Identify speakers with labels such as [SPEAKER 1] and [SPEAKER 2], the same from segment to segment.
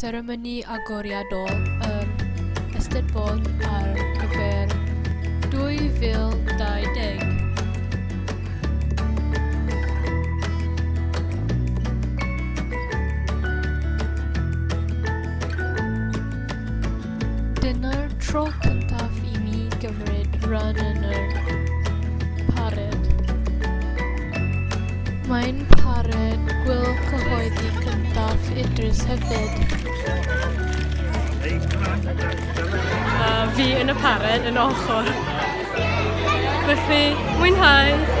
[SPEAKER 1] Seremoni agoriadol yr Eisteddfod ar gyfer 2020. Dyna'r tro cyntaf i mi gymryd rhan yn yr parêd. Mae'n parêd gwyl cyhoeddi cyntaf Idris hefyd. A fi yn y parêd yn ochr. Felly, mwynhau!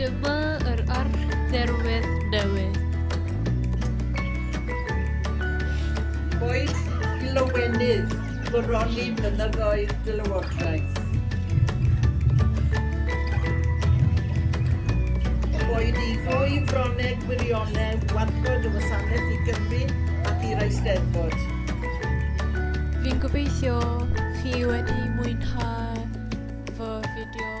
[SPEAKER 1] Dyma yr arddderwydd newydd. Boed i lywenydd goroni blynyddoedd dy lywodraeth. Boed i ddwy froneg wirionedd warchod y wasanaeth i Gymru ac i'r Eisteddfod. Fi'n gobeithio chi wedi mwynhau fy fideo.